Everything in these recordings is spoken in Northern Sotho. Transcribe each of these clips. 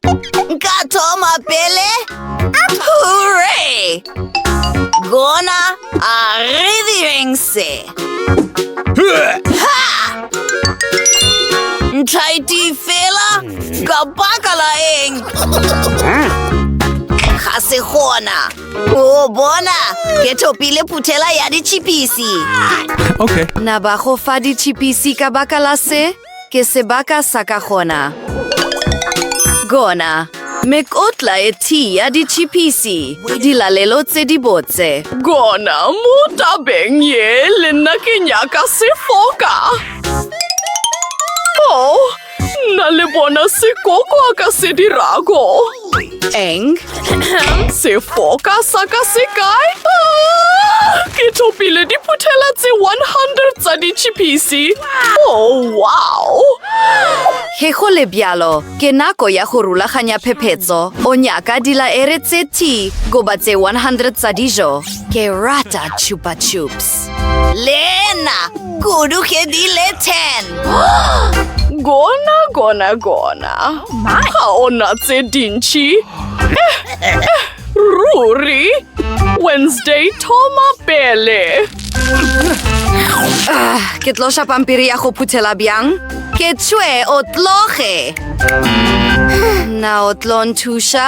Nka thoma pele. Hooray! Gona a re direng se. Ha! Ntlha e tee fela ka baka la eng? Ga se gona. O bona, ke thopile phuthela ya ditšhipisi. Okay. Na ba go fa ditšhipisi ka baka la se? Ke sebaka sa ka gona. Gona. Mekotla e thii ya ditšhipisi. Dilalelo tse di botse. Gona mo tabeng ye le nna ke nyaka sefoka. Oh, nna le bona se koko a ka se dirago. Eng? Sefoka sa ka se kae? Ah, ke thopile diphuthela tse 100 tsa ditšhipisi. Oh, wow! Ge go le bjalo, ke nako ya go rulaganya phephetso. O nyaka dilaere tse t goba tse 100 tsa dijo. Ke rata chupa chups. Lena, kudu ke di le 10. Gona, gona, gona. Ga ona tse dintši. Eh, eh, ruri. Wednesday, thoma pele. Ah, ke tlo ša pampiri ya go phuthela bjang? Ke tšwe o tloge. Na o tlo nthuša?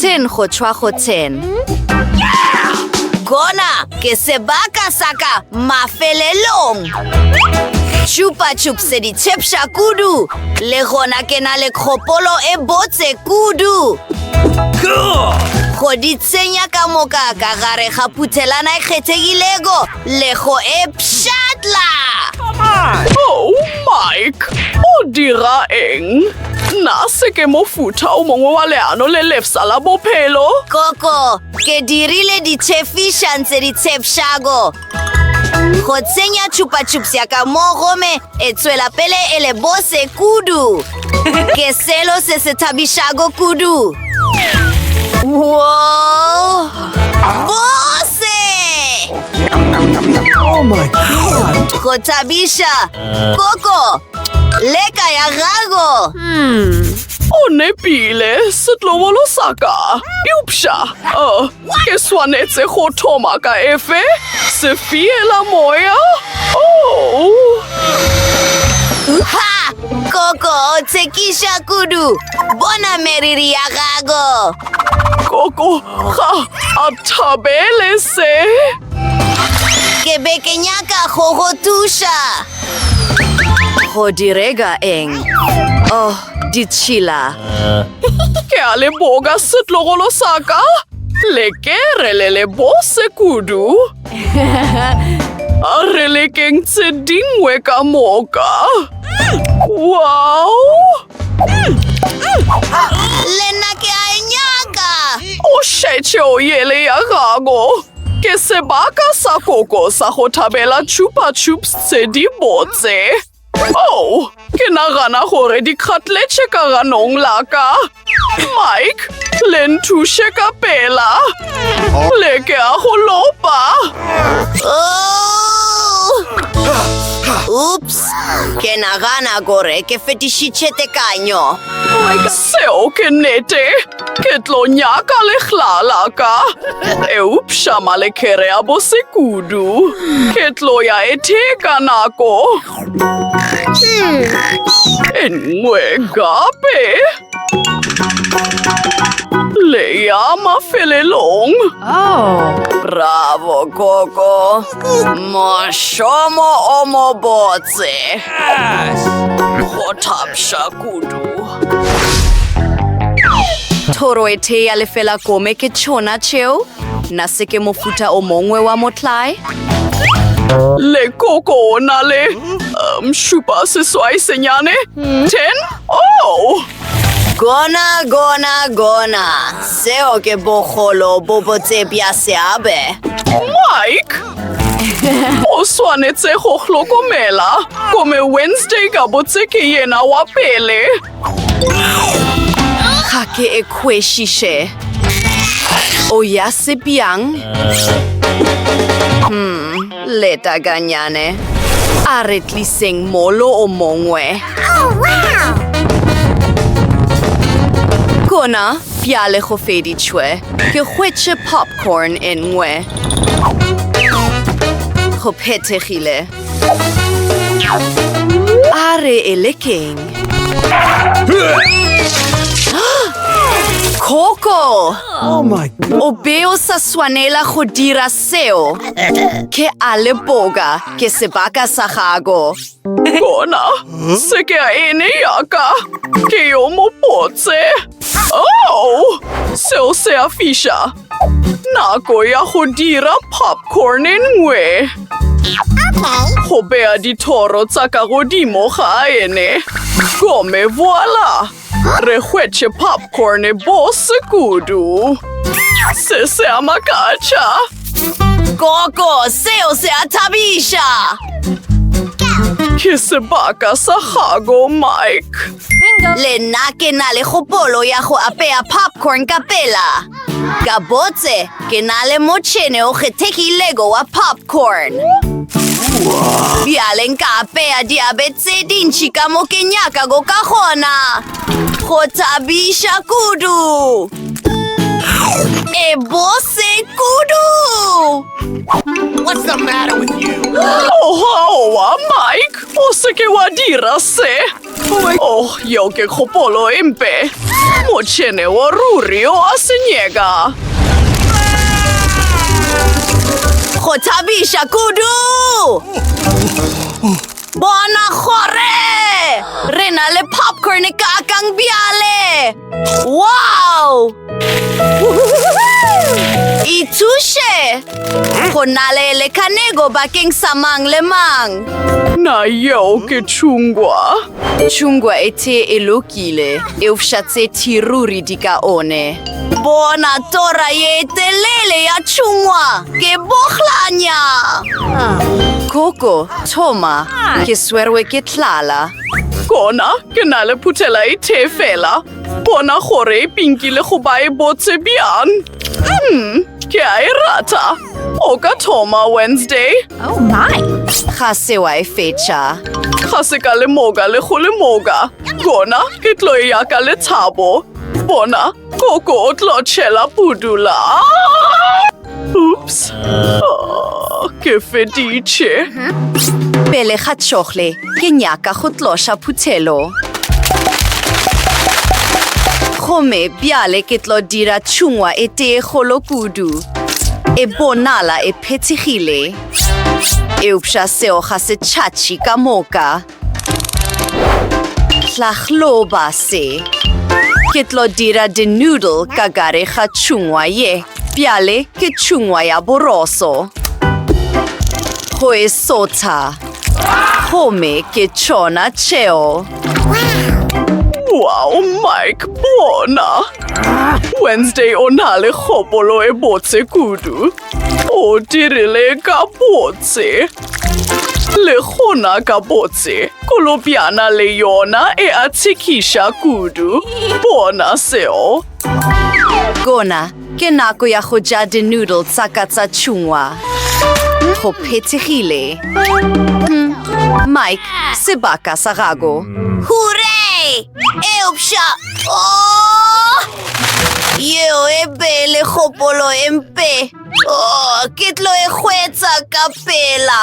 Ten go tšhwa go ten. Kona ke sebaka sa ka mafelelong. Chupa chupsedi chepša kudu. Le gona ke na le kgopolo e botse kudu. Go di tsenya ka moka ka gare ga phuthelana e kgethegilego. le go e pšhatla oh mike o dira eng nna se ke mofutha o mongwe wa leano le lefsa la bophelo koko ke dirile ditšhefišang tse di tshepšago go tsenya tšhupatšhupsya ka mo gome e tswela pele e le bose kudu Ke selo se se thabišago kudu. Whoa! Bose! Oh my god! Go thabisha! Koko! Leka ya gago! Hmm. O nepile, setlovolo sa ka. Eupša, uh, Ke swanetse go thoma ka efe? Sefiela moya? Oh! Ha! Koko o tshekisha kudu. Bona meriri ya gago. Koko ga a thabele se. Ke be ke nyaka go go thuša. Go direga eng? Oh, ditšhila. Ke a le boga setlogolo sa ka. Le ke re le le bose kudu. A re lekeng tse dingwe ka moka. Wow! Le nna ke a e nyaka. O šetše o yele ya gago. Ke sebaka sa koko sa go thabela chupa chups tse di botse. Oh, ke nagana gore di kgatletše ka ganong la ka. Mike, le nthuše ka pela. Le ke a go lopa. Oops, ke nagana gore ke fetišitše tekanyo. Seo ke nnete. Ke tlo nyaka legla la ka. Eupša malekere a bose kudu. Ke tlo ya e theka nako. E nngwe gape. Le ya mafelelong. Bravo, Koko. Mošomo o mobotse. Go thabša kudu. thoro e thee ya lefela kome ke tšhona tšeo na se ke mofuta o mongwe wa motlae lekoko o na le um, šupa seswai senyane hmm. ten o oh! gona gona gona seo ke bogolo bo botse bja seabe mike O swanetse go hlokomela kome Wednesday ka botse ke yena wa pele. Ga ke e kwešiše. O ya sepjang? Hmm, leta ganyane. A re tliseng molo o mongwe. Kona, bjale go feditšwe. Ke hwetše pop. Porn e nngwe. Go phethegile. A re e le keng? Coco! Oh my god. O be o sa swanela go dira seo. Ke a leboga, ke sebaka sa gago. Bona, se ke a ene yaka, ke yo mopotse. Oh, seo se a fiša. Nako ya go dira popcorn e nngwe. Go bea dithoro tsa ka godimo ga ene. Gome, voila! Re hwetše popcorn e bose kudu. Se se a makatša. Koko, seo se a thabiša. Ke sebaka sa gago, Mike. Le nna ke na le kgopolo ya go apea popcorn ka pela. Gabotse, ke na le motšhene o kgethegilego wa popcorn. Bjale nka apeya diabe tse dintši ka mo ke nyakago ka gona. Go thabiša kudu! E bose kudu! What's the matter with you? Ohoa, Mike! O se ke wa dira se! Oh, yeo ke kgopolo e mpe. Motšhene wa ruri o a senyeka. Go thabiša kudu! Bona gore! Re na le popcorn e kakang bjale! Wow! Ithuše! Go na le lekanego bakeng sa mang le mang. Na yeo ke tšhungwa? Tšhungwa e tee e lokile, eufša tse thiruri di ka one. Bona tora ye telele ya tšhungwa, ke bohlanya! Koko, thoma, ke swerwe ke tlala. Gona ke na le phuthela e tee fela. Bona gore e pinki le go ba e botse bjang. Hmm, ke a e rata. O ka thoma Wednesday. Oh my! Ga se wa e fetša. Ga se ka lemoka le go lemoka. Gona ke tlo e yaka le thabo. Bona Koko o tlo tšhela pudula. Oops. Oh, ke feditše. Pele ga tšhogle, ke nyaka go tloša phuthelo. Gomme bjale ke tlo dira tšhungwa e tee kgolo kudu. E bonala e phethegile. Eupša seo ga se tšhatšhi ka moka. Hlahloba se. Ke tlo dira di-noodle ka gare ga tšhungwa ye. Bjale ke tšhungwa ya boroso. Go e sotha. Gomme ke tšona tšeo. Wow, Mike, bona! Wednesday o na le kgopolo e botse kudu. O dirile ka botse. Le gona ka botse, kolobjana le yona e a tshekiša kudu. Bona seo. Gona ke nako ya go ja di-noodle tsa ka tsa tšhungwa. Go phethegile. Hm, Mike, sebaka sa gago. Hooray! Eupša, oh! Yeo e be e le kgopolo e mpe. Oh, ke tlo e hwetsa ka pela.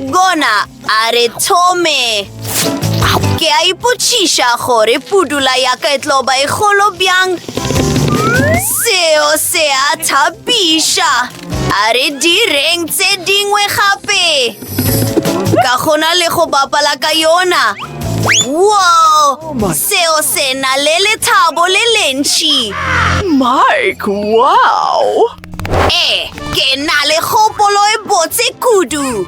Gona a re thome. Ke a ipotšiša gore pudula ya ka e tlo ba e kgolo bjang. Seo se a thapiša. A re direng tse dingwe gape. Ka go na le go bapala ka yona. Wow! Seo se na le lethabo le lentši. Mike, wow! Ee, ke na le kgopolo e botse kudu.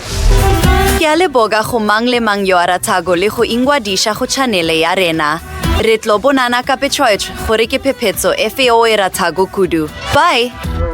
Ke a leboga go mang le mang yo a ratago le go ingwadiša go tšhanele ya rena. Re tlo bonana ka petshoetšh gore ke phephetso efe yo o e ratago kudu. Bye!